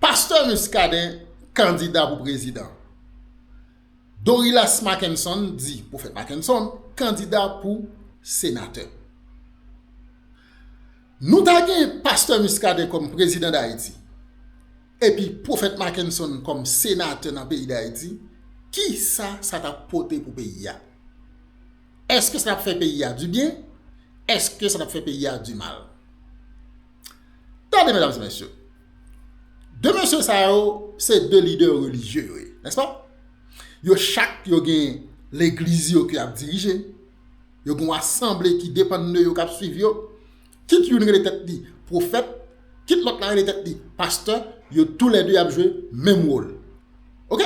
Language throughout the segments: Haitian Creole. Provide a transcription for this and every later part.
Pastè Muscadin kandida pou prezidan. Dorilas Mackenson, di Pwofèt Mackenson, kandida pou senatè. Nou ta gen Pastè Muscadin kòm prezidan Dayiti epi Pwofèt Mackenson kòm senatè nan peyi Dayiti, ki sa sa t ap pote pou peyi a? Èske sa t ap fè peyi a dibyen? Èske sa t ap fè peyi a dimal? Tande medam se mesye, 2 mesye sa yo se 2 lidè relijye yo ye, nèspa? Yo chak yo gen legliz yo ki ap dirije, yo gen yon asanble ki depann de yo k ap swiv yo, kit youn rele tèt li pwofèt, kit lòt la rele tèt li pastè, yo tou lè 2 ap jwe menm wòl. Ok,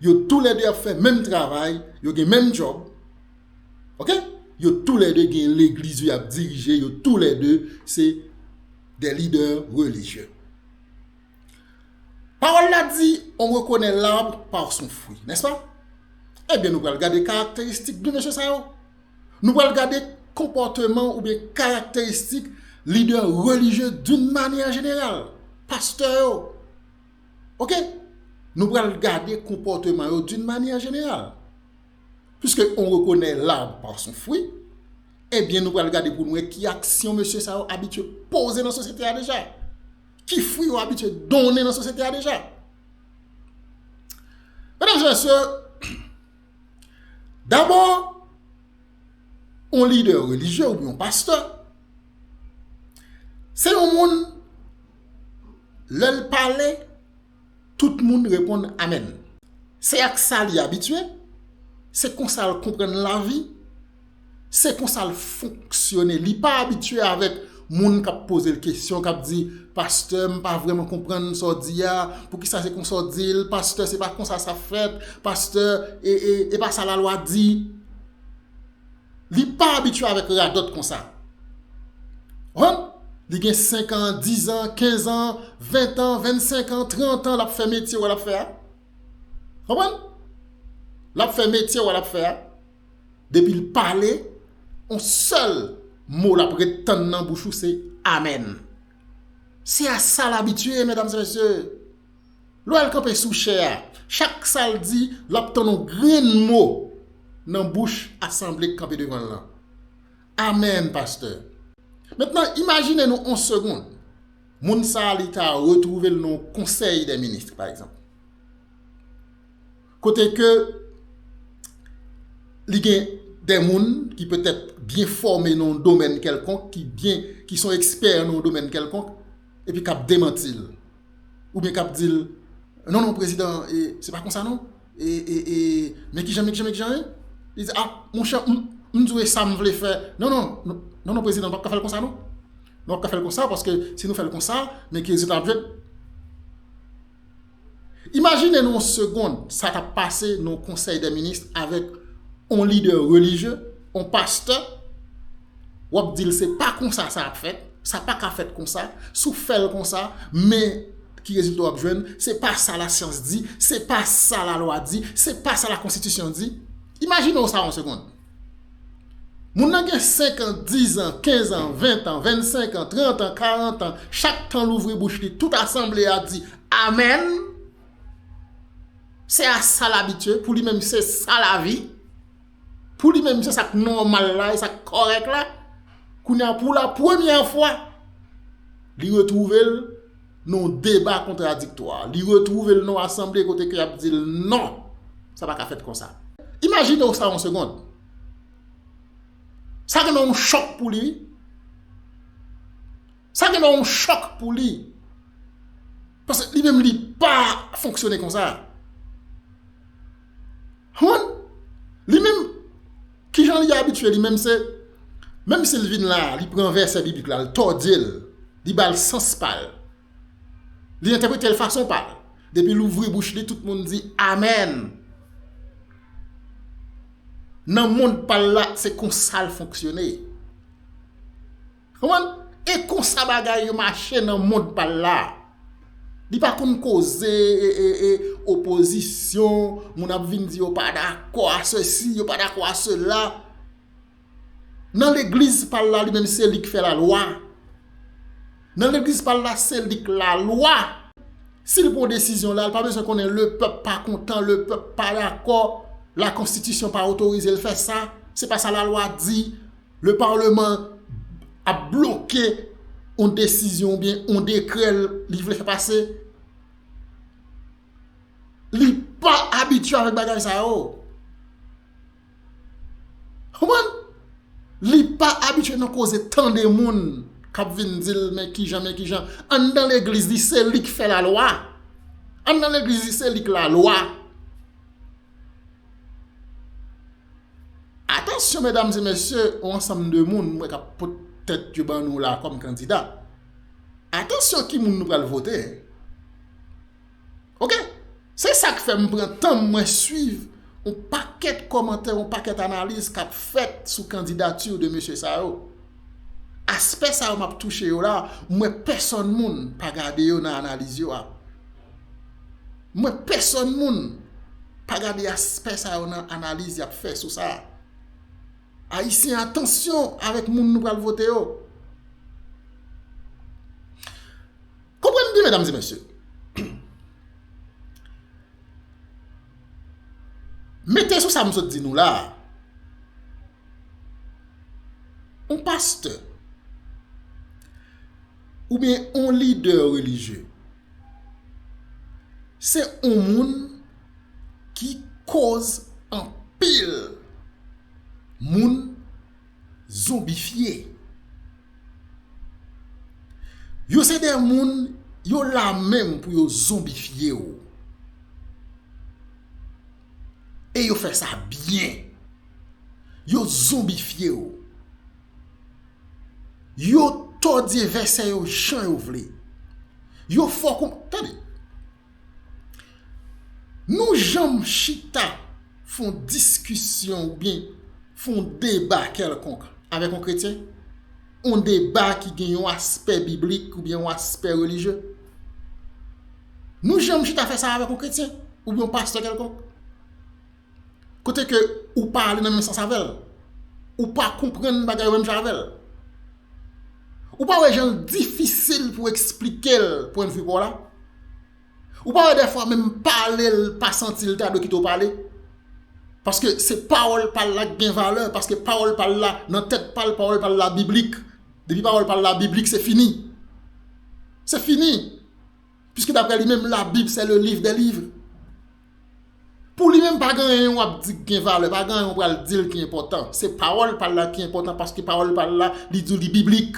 yo tou lè 2 ap fè menm travay, yo gen menm djòb. Ok? Yo tou lè 2 gen legliz yo yap dirije, yo tou lè 2 se des leaders religieux. Pawòl la di, on rekonè l'arbre par son fruit, n'est-ce pas? Ebyen nou pral gade karakteristik 2 mesye sa yo. Nou pral gade konpòteman oubyen karakteristik lidè relijye doun manyè jeneral. Pastè yo. Ok? Nou pral gade konpòteman yo doun manyè jeneral. Piske on rekonè l'arbre par son fruit, ebyen nou pral gade pou nou wè ki aksyon mesye sa yo abitye poze nan sosyete a deja. Ki fwi yo abitye donnen nan sosyete a deja. Medam e mesye, dabò, on lidè relijye ou yon pastè, se yon moun lèl pale, Tout moun reponn amèn. Se ak sa li abitye, se konsa l konprann lavi, se konsa l fonksyone. Li pa abitye avèk moun k ap poze l kesyon, k ap di, Pastè, m pa vrèman konprann sa w di a. Poukisa se konsa w di l? Pastè, se pa konsa sa fèt. Pastè, e pa sa lalwa di. Li pa abitye avèk radòt konsa. Ou konprann? Li gen 5 an, 10 an, 15 an, 20 an, 25 an, 30 an l ap fè metye wè l ap fè a. Ou konprann? L ap fè metye wè l ap fè a. Depi l pale, on sèl mo l ap ret tann nan bouch ou se amèn. Se a sa l abitye, medam e mesye. Lè w al kanpe sou chè a, chak sa l di, l ap tann yon grenn mo nan bouch asanble k kanpe devan l lan. Amèn, pastè. Mentnan, imajine nou yon segond, moun sa a li ta retwouve l nan yon konsèy dè ministr, pa egzanp, kote ke li gen dè moun ki petèt byen fòme nan yon domèn kèlkonk, ki byen, ki son ekspè nan yon domèn kèlkonk, epi k ap demanti l. ou byen kap dil non non prezidan se pa konsa non e men kijan men kijan men kijan li di a monchè m di w e sam vle fè non non non non prezidan nou pap ka fèl konsa non nou pap ka fèl konsa paske si nou fèl konsa men ki rezilta nap jwenn imajine nou yon segond sa kap pase nan yon konsèy de minis avèk yon lidè relijye yon pastè wap dil se pa konsa sa ap fèt, sa pa ka fèt konsa, si w fèl konsa men ki rezilta wap jwenn, se pa sa la syans di, se pa sa la lwa di, se pa sa la konstitisyon di, imajine w sa yon segond. Moun nan gen 5 an, 10 an, 15 an, 20 an, 25 an, 30 an, 40 an, chak tan louvri bouch li tout asanble a di amen, se a sa l abitye, pou li menm se sa lavi. Pou li menm se sak nòmal la, e sak kòrèk la, kounye a pou la premyè fwa, li retwouve l nan yon deba kontradiktwa, li retwouve l nan yon asanble kote ke y ap di l non, sa pa ka fèt konsa. Imajine w sa yon segond. Sa gen nan yon chòk pou li wi. Sa gen nan yon chòk pou li. Paske li menm li pa fonksyone konsa. Humm! Li menm, kijan li abitye li menm se, menm si l vin la a, li pran vèsè biblik la, l tòdye l, li ba l sans pa l. Li entèprete l fason pa l. Depi l ouvri bouch li, tout moun di amèn. Nan mond pa l la, se konsa l fonksyone. Konprann? E konsa bagay yo mache nan mond pa l la. Li pa konn koze opozisyon, moun ap vin di yo pa dakò a sesi, yo pa dakò a sela. Nan legliz pa l la li menm se li k fè lalwa. Nan legliz pa l la se li k lalwa. Si l pran desizyon la, l pa bezwen konnen le pèp pa kontan, le pèp pa dakò, lakonstitisyon pa otorize l fè sa, se pa sa lalwa di. Le parlement ap bloke yon desizyon ou byen yon dekrè li vle fè pase. Li pa abitye avèk bagay sa yo. Kouman? Li pa abitye nan koze tande moun k ap vin di l men ki jan men ki jan. Anndan legliz li se li k fè lalwa. Anndan legliz li se li k lalwa. Atansyon medam e mesye yon ansanm de moun mwen kap pot tèt yo ban nou la kòm kandida atansyon ki moun nou pral vote ok se sak fèm pran tanm mwen swiv yon pakèt kòmantè yon pakèt analiz kap fèt sou kandidati de mesye sa yo aspè sa yo map touche yo la mwen pèsòn moun pa gade yo nan analiz yo a. Mwen pèsòn moun pa gade aspè sa yo nan analiz yap fè sou sa. Ayisyen atansyon avèk moun nou pral vote yo. Konprann byen medam e mesye. Mete sou sa m sot di nou la. On pastè. Ou byen on lidè relijye. Se on moun ki koz anpil moun zonbifye. Yo se de moun yo la menm pou yo zonbifye ou. E yo fè sa byen. Yo zonbifye ou. Yo tòdye vèsè yo jan yo vle. Yo fò kou. Tande! Nou janm chita fè yon diskisyon oubyen fè yon deba kèlkonk avèk yon kretyen? Yon deba ki gen yon aspè biblik oubyen yon aspè relijye? Nou janm chita fè sa avèk yon kretyen oubyen yon pastè kèlkonk? Kote ke ou pa ale nan menm sans avèl. Ou pa konprann bagay yo menm jan avèl. Ou pa wè janl difisil pou eksplikel pwen de vue paw la. Ou pa wè dèfwa menm palel pa santil ta dwe kite ou pale. Paske se pawòl pal la ki gen valè. Paske pawòl pal la nan tèt pal pawòl pal la biblik. Depi pawòl pal la biblik se fini. Se fini. Piske daprè li menm la bib se le liv de liv. Pou li menm pa gen anyen w ap di ki gen valè, pa gen anyen w pral di l ki enpòtan. Se pawòl pa l la ki enpòtan paske pawòl pa l la li di w li biblik.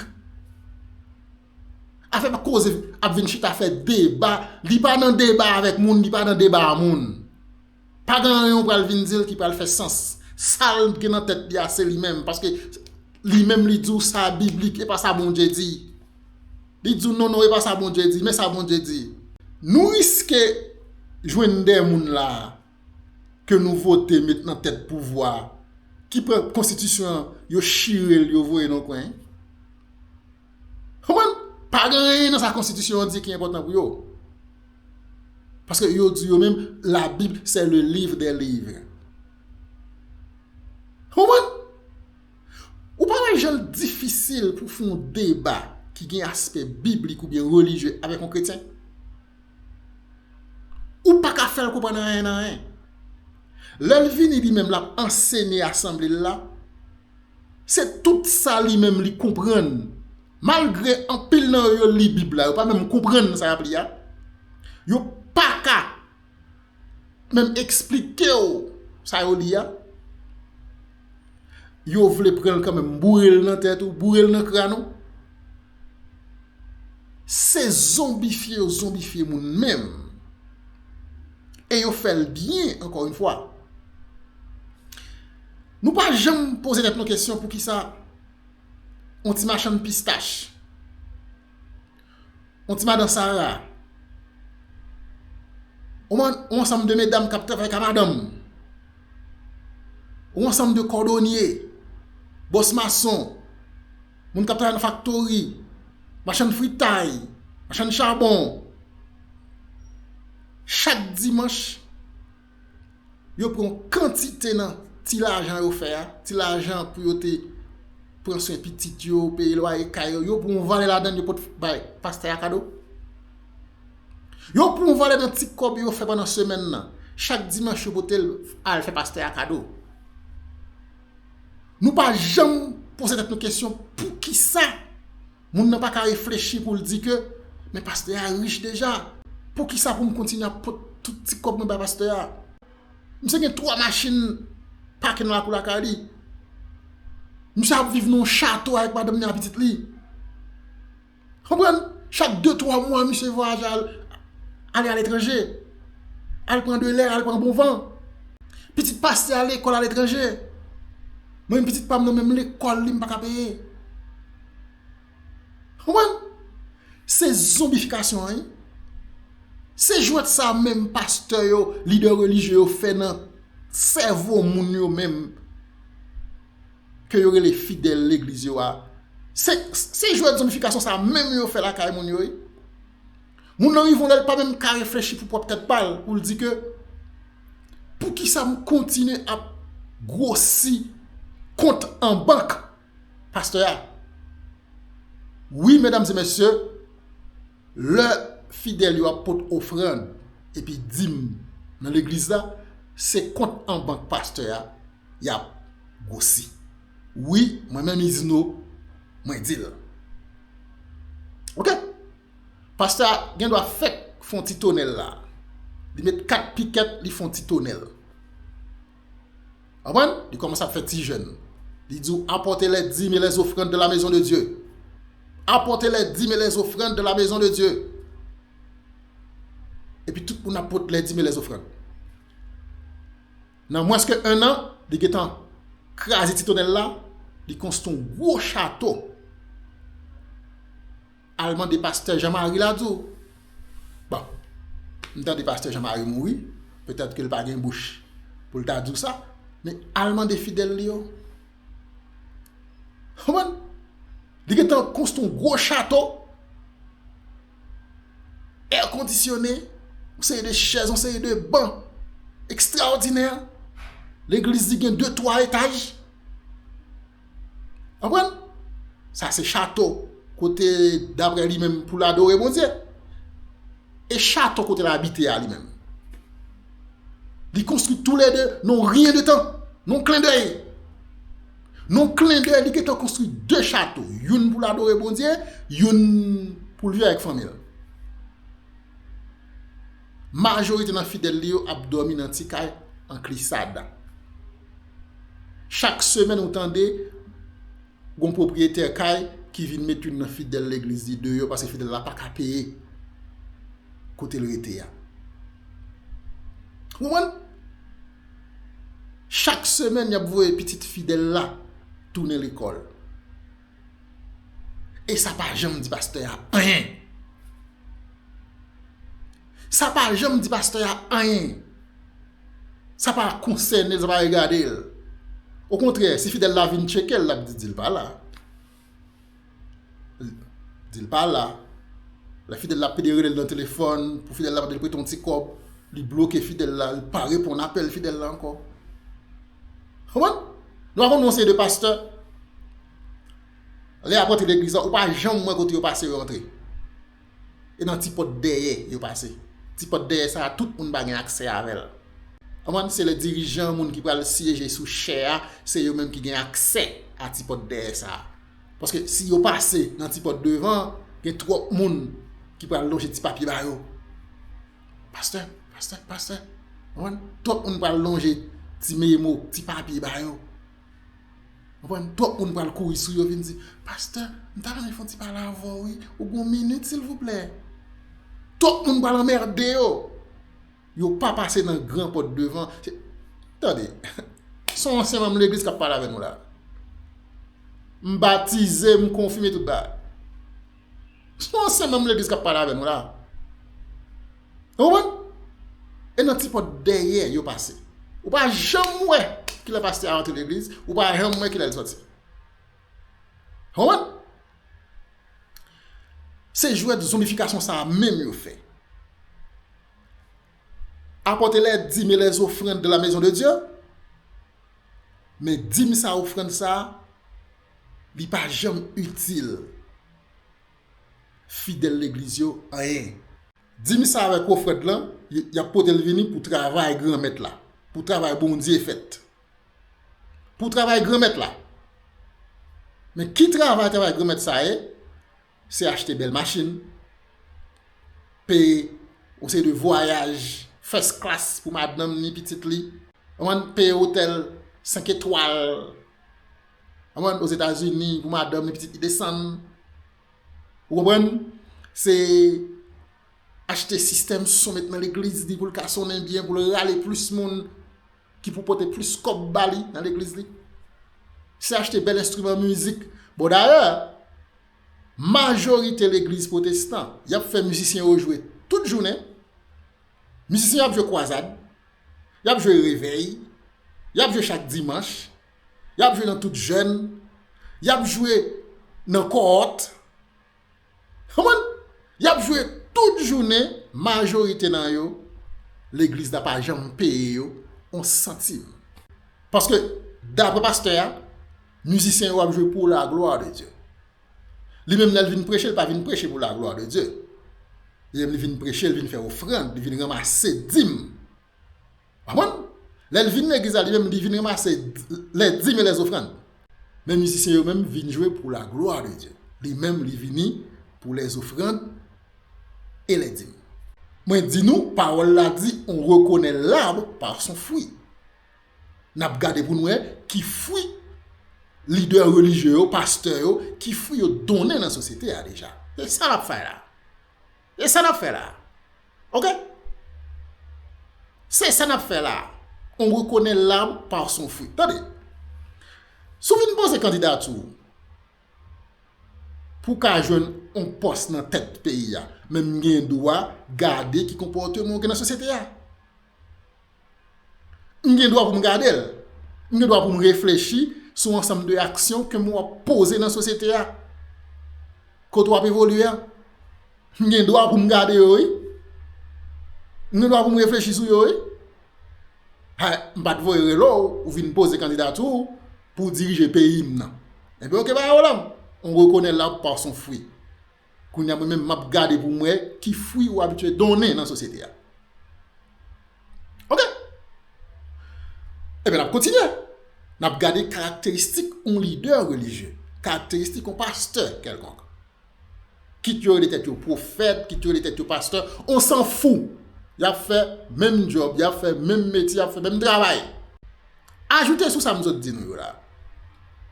Afè pa koze ap vin chita fè deba, li pa nan deba avèk moun, li pa nan deba a moun. Pa gen anyen w pral vin di l ki pral fè sans. Sa l gen nan tèt li a se li menm paske li menm li di w sa biblik e pa sa Bondye di. Li di w non non e pa sa Bondye di, men sa Bondye di. Nou riske jwenn de moun la a ke nou vote met nan tèt pouvwa a ki pran konstitisyon an yo chire l yo voye l yon kwen. Konprann? Pa gen anyen nan sa konstitisyon an di ki enpòtan pou yo. Paske yo di yo menm la bib se le livre des livres. Konprann? Ou pa wè jan l difisil pou w fè yon deba ki gen aspè biblik oubyen relijye avèk yon kretyen? Ou pa ka fè l konprann anyen nan anyen. Lè l vini li menm l ap ansenye asanble l la, se tout sa li menm li konprann, malgre anpil nan yo yo li Bib la, yo pa menm konprann sa y ap li a, yo pa ka. menm eksplike w sa yo li a, yo vle pran l kanmenm boure l nan tèt ou, boure l nan kran ou. Se zonbifye yo zonbifye moun menm. E yo fè l byen ankò yon fwa. Nou pa janm poze tèt nou kesyon poukisa yon ti machann pistach. On ti madan Sara. On ansanm de medam k ap travay ka madanm. On ansanm de kòdonye, bòs mason, moun k ap travay nan faktori, machann fritay, machann chabon. Chak dimanch. Yo pran yon kantite nan ti lajan yo fè a, ti lajan pou yo te pran swen pitit yo, peye lwaye kay yo, yo pran yon valè ladan l yo pot bay pastè a kado. Yo pran yon valè nan ti kòb yo fè pandan semèn nan, chak dimanch yo pote l al fè pastè a kado. Nou pa janm poze tèt nou kesyon poukisa? Moun nan pa ka reflechi pou l di ke, men pastè a rich deja, poukisa pou m kontinye ap pot tout ti kòb mwen bay pastè a? Misye gen 3 machin pake nan lakou lakay li. Misye ap viv nan yon chato avèk madanm li ak pitit li. Konprann? Chak 2, 3 mwa misye vwayaje al ale aletranje. Al pran de lè, al pran bon van. Pitit pastè a lekòl aletranje. Mwen menm pitit pa m nan menm lekòl li m pa ka peye. Konprann? Se zonbifikasyon an wi. Se jwèt sa menm pastè yo, lidè relijye yo fè nan sèvo moun yo menm ke yo rele fidèl legliz yo a. Se jwèt zonbifikasyon sa menm yo fè lakay moun yo wi. Moun nan rive yon lè li pa menm ka reflechi pou pwòp tèt pa l pou l di ke poukisa m kontinye ap gwosi kont an bank Pastè a Wi medam e mesye lè fidèl yo ap pot ofrand epi dim nan legliz la se kont an bank pastè a yap gwosi wi mwen menm izino mwen dil ok pastè a gen dwa fèk fon ti tonèl la li met 4 pikèt li fon ti tonèl. Konprann? Li kòmanse ap fè ti jèn. Li di w, apòte lè dim e lè ofrann dan la mezon de Dye. Apòte lè dim e lè ofrann dan la mezon de Dye. Epi tout moun ap pot lè dim e lè ofrann. Nan mwens ke 1 an, li gen tan kraze ti tonèl la, li konstwi yon gwo chato. Al mande pastè Jean Marie la di w. Bon, m tande pastè Jean Marie mouri, petèt ke l pa gen bouch pou l ta di w sa, men al mande fidèl li yo. Ou konprann? Li gen tan konstwi yon gwo chato, èr kondisyone, yon seri de chèz, yon seri de ban ekstraòdinè, legliz li gen de twa etaj. Konprann? Sa se chato kote daprè li menm pou l adore Bondye. E chato kote l abite a li menm? Li konstwi tou le 2 nan yon ryen de tan, nan yon klen dèy. Nan yon klen dèy li gentan konstwi 2 chato, youn pou l adore Bondye, youn pou l viv avèk fanmi l. Majorite nan fidèl li yo ap dòmi nan ti kay an klisa dan. Chak semèn ou tande gon pwopriyetè kay ki vin met youn nan fidèl legliz li deyò paske fidèl la pa ka peye kote l rete a. Ou konprann? Chak semèn y ap voye pitit fidèl la tounen lekòl. E sa pa janm di pastè a anyen. Sa pa janm di pastè a anyen. Sa pa konsène l, sa pa regade l. Okontrè, si fidèl la vin tcheke l, l ap di, di l pa la. Di l pa la. Lè fidèl la ap pede rele l nan telefòn, pou fidèl la mande l prete yon ti kòb, li bloke fidèl la, li pa reponn apèl fidèl la ankò. Konprann? Nou pa konn yon seri de pastè, lè y ap rantre legliz la, ou pa janm wè kote yo pase yo rantre. e nan ti pòt dèyè yo pase. Ti pòt dèyè sa a tout moun pa gen aksè avè l. Konprann? Se lè dirijan moun ki pral syeje sou chè a se yo menm ki gen aksè a ti pòt dèyè sa a. Paske si yo pase nan ti pòt devan an, gen twòp moun ki pral lonje ti papye ba yo. Pastè, pastè, pastè. Konprann? Twòp moun pral lonje ti memo, ti papye ba yo. Mkonn twòp moun pral kouri sou yo vin di, Pastè, m ta renmen fè yon ti pale avè w wi, ou gen yon minit silvouplè? Twòp moun pral anmède yo! Yo pa pase nan gran pòt devan. Tande, se yon ansyen manm legliz k ap pale avè nou la. M batize, m konfime, tout bagay. Spa se menm legliz kap pale avè nou la. Ou konprann? E nan ti pòt dèyè yo pase. Ou pa janm wè kilè pastè a rantre legliz, ou pa janm wè kilè li sòti. Ou konprann? Se jwèt zonbifikasyon sa menm yo fè. Apòte lè dim e lè zofrand de la mezon de Dye, men dim sa ofrand sa, Li pa janm itil fidèl legliz yo anyen. Di m sa avèk ofrand lan, y ap pote l vini pou travay Granmèt la, pou travay Bondye fèt. Pou travay Granmèt la. Men ki travay travay Granmèt sa ye? se achte bèl machin, peye yon seri de vwayaj first class pou madanm ni pitit li, peye otèl 5 etwal ozetazini pou madanm ni pitit li desann. Ou konprann? Se achte sistèm son met nan legliz li pou l ka sonnen byen, pou l rale plis moun. ki pou pote plis kòb ba li nan legliz li. Se achte bèl enstriman mizik. Bon dayè, majorite legliz pwotestan, y ap fè mizisyen yo jwe tout jounen. Mizisyen yo ap jwe kwazad, y ap jwe revèy, y ap jwe chak dimanch, y ap jwe nan tout jèn, y ap jwe nan kòwòt. Konprann? Y ap jwe tout jounen, majorite nan yo, legliz la pa janm peye yo yon santim. Paske, dapre pastè a, mizisyen yo ap jwe pou la glwa de Dye. Li menm lè l vin preche, l pa vin preche pou la glwa de Dye. Li menm li vin preche, li vin fè ofrand, li vin ranmase dim. Konprann? Lè l vin legliz la li menm li vin ranmase lè dim e lè zofrann. Men mizisyen yo menm vin jwe pou la glwa de Dye. Li menm li vini pou lè zofrann e lè dim. Mwen di nou, pawòl la di, on rekonè lab pa son fwi. N ap gade pou n wè ki fwi lidè relijye yo, pastè yo, ki fwi yo donnen nan sosyete a deja. Se sa l ap fè la. E sa nap fè la a? Ok. Se sa nap fè la a. On rekonè l'arbre par son fruit. Tande. Si w vin poze kandidati w pou w ka jwenn on pòs nan tèt peyi a, men m gen dwa gade ki konpòteman w gen nan sosyete a. M gen dwa pou m gade l. M gen dwa pou m reflechi sou ansanm de aksyon ke m wap poze nan sosyete a. Kote w ap evolye a. M gen dwa pou m gade yo wi. M gen dwa pou m reflechi sou yo wi. Hay, m pa t voye rele w, ou vin poze kandidati w pou dirije peyi m nan. Ebyen ok pa yon pwoblèm. On rekonè l'arbre par son fruit. Kounya mwen menm map gade pou m wè ki fwi ou abitye donnen nan sosyete a. Ok! Ebyen nap kontinye. Nap gade karakteristik yon lidè relijye. Karakteristik yon pastè kèlkonk. Kit yo rele tèt yo pwofèt, kit yo rele tèt yo pastè, on san fou! Yap fè menm djòb, yap fè menm metye, yap fè menm travay. Ajoute sou sa m sot di nou yo la.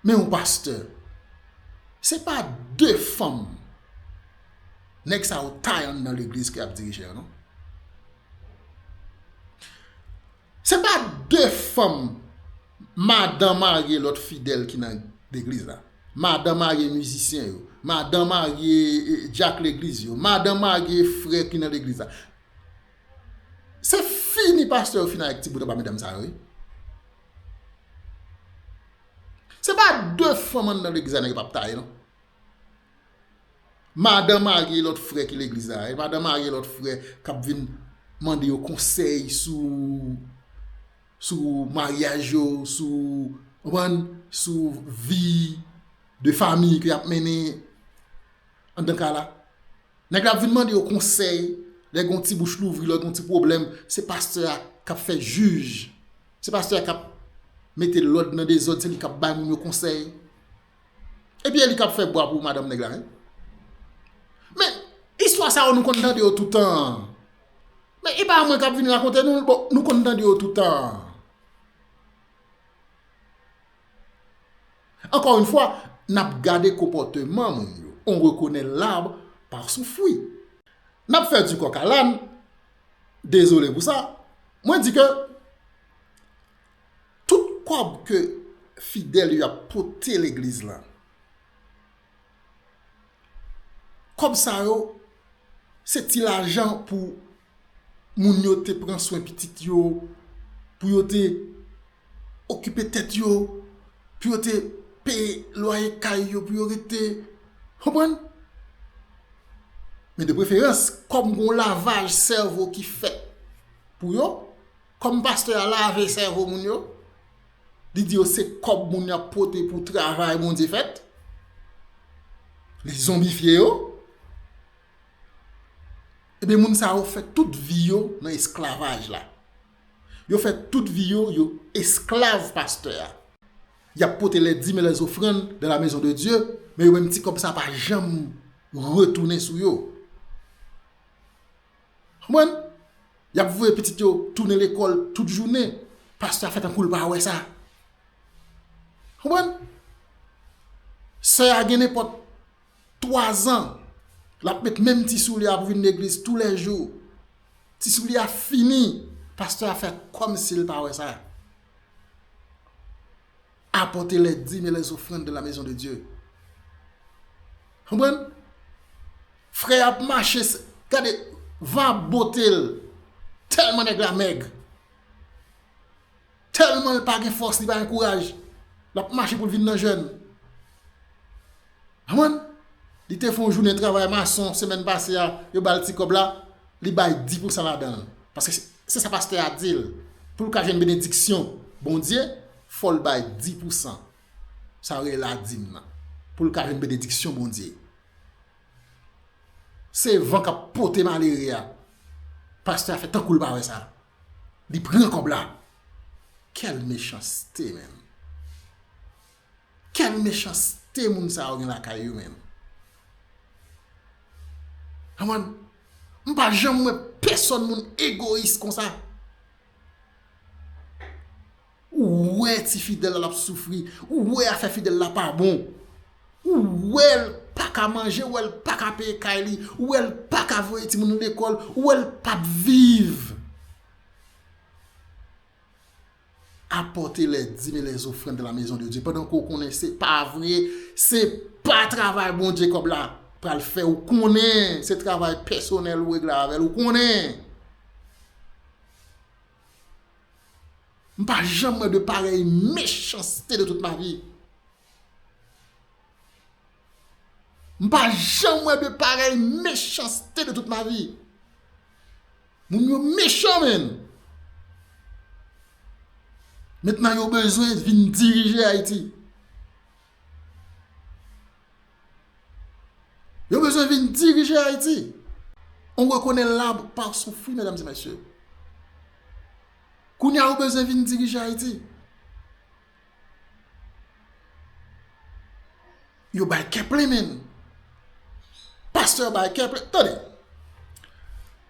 Men yon pastè. Se pa de fanm nèg sa yo tay anndan legliz ki ap dirije yo non. Se pa de fanm madan marye lòt fidèl ki nan legliz la. Madan marye mizisyen yo. Madan marye dyak legliz yo. Madan marye frè ki nan legliz la. Se fini pastè yo fini ak ti bout anba medam sa yo wi. Se pa de fanm anndan legliz la nèg yo pap taye non. Madan marye lòt frè ki legliz la, madan marye lòt frè kap vin mande yo konsèy sou sou maryaj yo, sou ou konprann, sou vi de fami ke yap mennen anndan kay la. Nèg la ap vin mande yo konsèy lè gon ti bouch louvri, lè gon ti pwoblèm, se pastè a kap fè jij. Se pastè a kap mete lòd nan dezòd, se li kap bay moun yo konsèy. Epi e li kap fè bwa pou madanm nèg la menm. Men, istwa sa yo nou konn tande yo toutan. Men, e pa mwen kap vin rakonte nou, bon, nou konn tande yo toutan. Ankò yon fwa, nap gade konpòteman moun yo. On rekonè l'arbre par son fruit. Nap fè du coq à l'âne. Dezole pou sa. Mwen di ke tout kòb ke fidèl yo ap pote legliz la, kòb sa yo se ti lajan pou moun yo te pran swen pitit yo, pou yo te okipe tèt yo, pou yo te peye lwaye kay yo, pou yo rete, konprann? Men de preferans, kòm gen yon lavaj sèvo ki fèt pou yo, kòm pastè a lave sèvo moun yo, li di yo se kòb moun yo ap pote pou travay Bondye fèt, li zonbifye yo, e byen moun sa yo fè tout vi yo nan esklavaj la. Yo fè tout vi yo, yo esklav pastè a. Y ap pote lè dim e lè zofrann dan la mezon de Dye, men yo menm ti kòb sa pa janm retounen sou yo. Konprann? Y ap voye pitit yo tounen lekòl tout jounen, pastè a fè tankou l pa wè sa. Konprann? Sè a gen nenpòt 3 zan lap met menm ti soulye a pou vin legliz tou lè jou ti soulye a fini pastè a fè kòm sil pa wè sa apòte lè dim e lè zofrann de la mezon de Dye konprann frè a ap mache gade van ap bote l tèlman nèg la mèg. Tèlman l pa gen fòs li pa gen kouraj l ap mache pou l vin nan jèn. Anmwey! Li te fè yon jounen travay mason semèn pase a yo ba l ti kòb la, li bay di pou san ladan l. Paske se sa pastè a di l pou l ka jwenn benediksyon Bondye fò l bay di pou san sa yo rele ladim nan pou l ka jwenn benediksyon Bondye. Se van k ap pote malere a. Pastè a fè tankou l pa wè sa. Li pran kob la. Quel mechanste menm. Quel mechanste moun sa yo gen lakay yo menm. An mwen. M pa janm wè pèsòn moun egoyis konsa. Ou wè ti fidèl la lap soufri, ou wè afè fidèl la pa bon, ou wèl paka manje, ou wèl paka peye kay li, ou wèl paka voye timoun li lekòl, ou wèl pap viv. Apòte lè dim e lè zofrann dan la mezon de Dye pandan ke ou konnen se pa vre, se pa travay Bondye kòb la pral fè ou konnen, se travay pèsonèl ou regle avèl ou konnen. M pa janm wè de parèy mechanste de tout ma vi. M pa janm wè de parèy mechanste de tout ma vi. Moun yo mechan men. Mentnan yo bezwen vin dirije Ayiti. Yo bezwen vin dirije Ayiti. On mwen konnen lab pa soufri, mèdam zi mèsye. Kounya yo bezwen vin dirije Ayiti. Yo bay keple menm. Pasteur bay keple. Tande.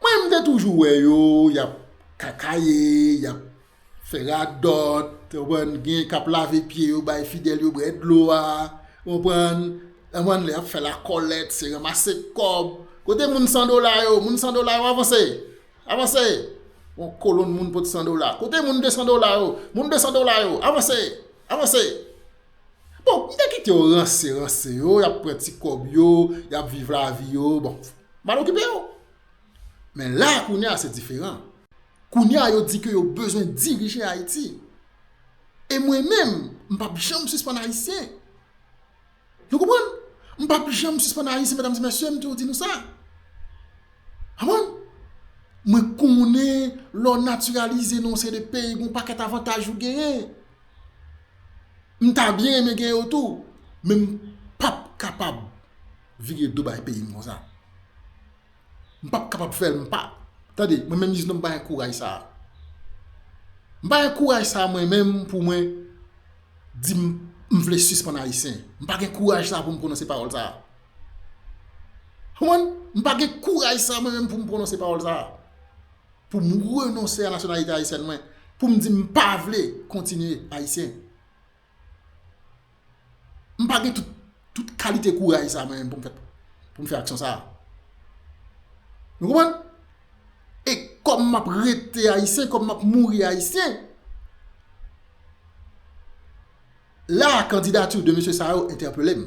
Mwen mwen te toujou wè yo, yap kakaye, yap. Fè radòt, ou konprann, gen k ap lave pye yo bay fidèl yo bwè dlo a, ou konprann, ou konprann lè y ap fè lakòlèt se ranmase kòb, kote moun san dola yo, moun san dola yo avanse, avanse, yon kolonn moun pot san dola, kote moun desan dola yo, moun desan dola yo, avanse, avanse. Bon, m te kite yo ranse, ranse yo, y ap pran ti kòb yo, y ap viv lavi yo, bon, m pa t okipe yo. Men la a kounye a se diferan. Kounye a yo di ke yo bezwen dirije Ayiti. E mwen menm, m pa p janm sispann Ayisyen. Nou konprann? M pa p janm sispann Ayisyen, medam e mesye, m toujou di nou sa. Konprann? Mwen konnen lè w natiralize nan yon seri de peyi, gen yon pakèt avantaj ou genyen. M ta byen renmen gen yo tou. Men m pa p kapab vire do bay peyi m konsa. M pap kapab fèl m pa tande mwen menm iznon m pa gen kouraj sa a m pa gen kouraj sa a mwen menm pou mwen di m m vle sispann ayisyen m pa gen kouraj sa a pou m pwononse pawòl sa a konprann m pa gen kouraj sa a mwen menm pou m pwononse pawòl sa a pou m renonse a nasyonalite ayisyèn mwen pou m di m pa vle kontinye ayisyen. M pa gen tout kalite kouraj sa mwen menm pou m fè pou m fè aksyon sa. Nou konprann? E kòm m ap rete ayisyen, kòm m ap mouri ayisyen, la kandidati de mesye sa yo entèpele m.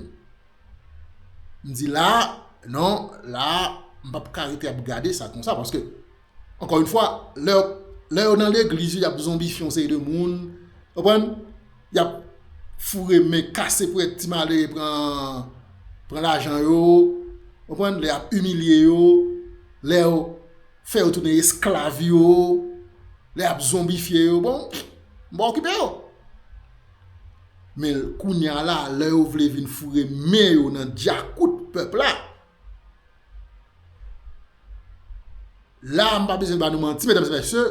M di la, non, la, m pa pou ka rete ap gade sa konsa paske Ankò yon fwa, lè yo nan legliz yo, y ap zonbifye yon seri de moun, ou konprann, y ap foure men, kase pou èt ti malere pran lajan yo, ou konprann, lè y ap imilye yo, lè yo fè yo tounen esklav yo, lè y ap zonbifye yo, bon, m pa okipe yo. Men kounye a la, lè yo vle vin foure men yo nan dyakout pèp la, La a m pa bezwen ba nou manti medam e mesye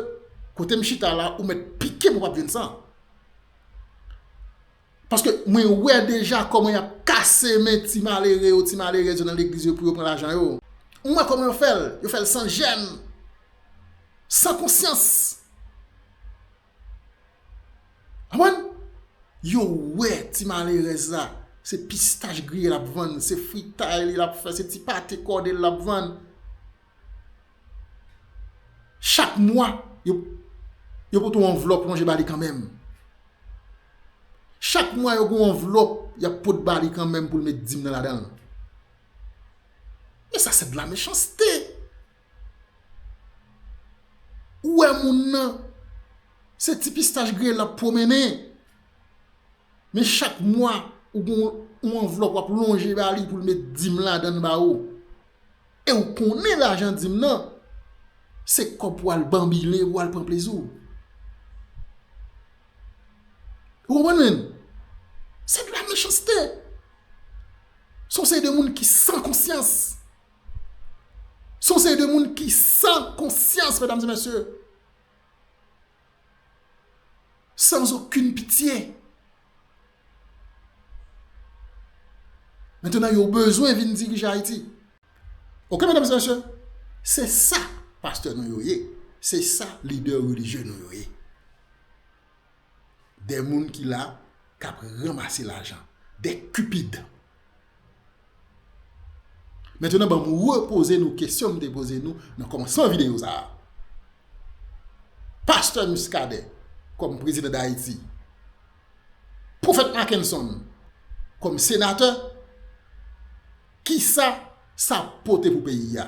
kote m chita la ou met pike m ou pap jwenn san. Paske mwen wè deja koman yap kase men ti malere yo ti malerèz yo nan legliz yo pou yo pran lajan yo. Mwen wè koman yo fè l, yo fè l san jèn, san konsyans. Konprann? Yo wè ti malerèz la, se pistach griye l ap vann, se fritay li l ap fè, se ti pate kòde l ap vann. Chak mwa, yo pote yon anvlòp lonje ba li kanmenm. Chak mwa, yo gen yon anvlòp y ap pot ba li kanmenm pou l met dim nan ladan l. Men sa se de la mechanste! Ou wè moun nan se ti pistach griye lap pwomennen men chak mwa ou gen yon anvlòp wap lonje ba li pou l met dim ladan l ba ou e ou konnen lajan dim nan se kòb pou al banbile pou al pran plezi w. Ou konprann menm? Se de la mechanste. Se yon seri de moun ki san konsyans. Se yon seri de moun ki san konsyans, medam e mesye. San zokin pitye. Metenan yo bezwen vin dirije Ayiti. Ok, medam e mesye. Se sa pastè nou yo ye. Se sa lidè religye nou yo ye. Des moun ki la kap ranmase lajan. Des cupides. Maintenant banm repoze nou kesyon m te poze nou nan komansman video sa a. Pasteur Muscadin kom prezidan Dayiti. Profèt Mackenson kom senatè. Kisa sa pote pou peyi a?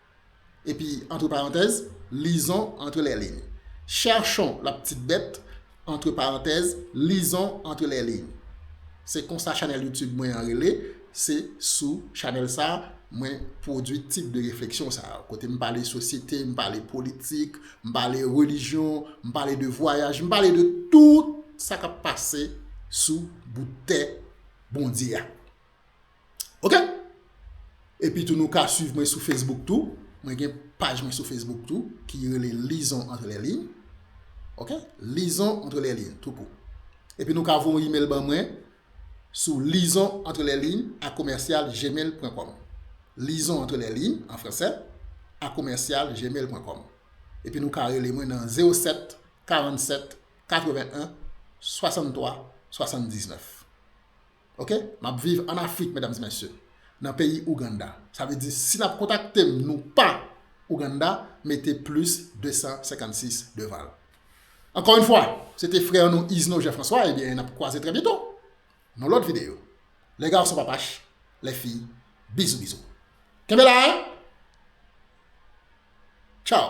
Epi antre parantèz, Lizon antre lè liy. Chèchon la ptit bèt, antre parantèz, Lizon antre lè liy. Se konsa chanèl YouTube mwen an rele, se sou chanèl sa mwen pwodwi tip de refleksyon sa yo. Kote m pale sosyete, m pale politik, m pale relijyon, m pale de vwayaj, m pale de tout sa k ap pase sou bout tè Bondye a. Ok? Epi tou nou ka swiv mwen sou Facebook tou. Mwen gen paj mwen sou Facebook tou ki rele Lison Entre Les Lignes. Ok? Lison Entre Les Lignes tou kou. Epi nou ka voye yon email ban mwen sou lison entre les lignes a commercial gmail.com. Lison Entre Les Lignes an fransè a commercial gmail.com. Epi nou ka rele mwen nan 07 47 81 63 79. Ok map viv an afrik medam mesye nan peyi ouganda sa vle di si nap kontaktem nou pa ouganda mete plis 256 devanl ankò yn fwa se te frè nou izno jean François ebyen nap kwaze trè byento nan lòt video lè gason pa pach lè fi bizou bizou kenbe la tchaw.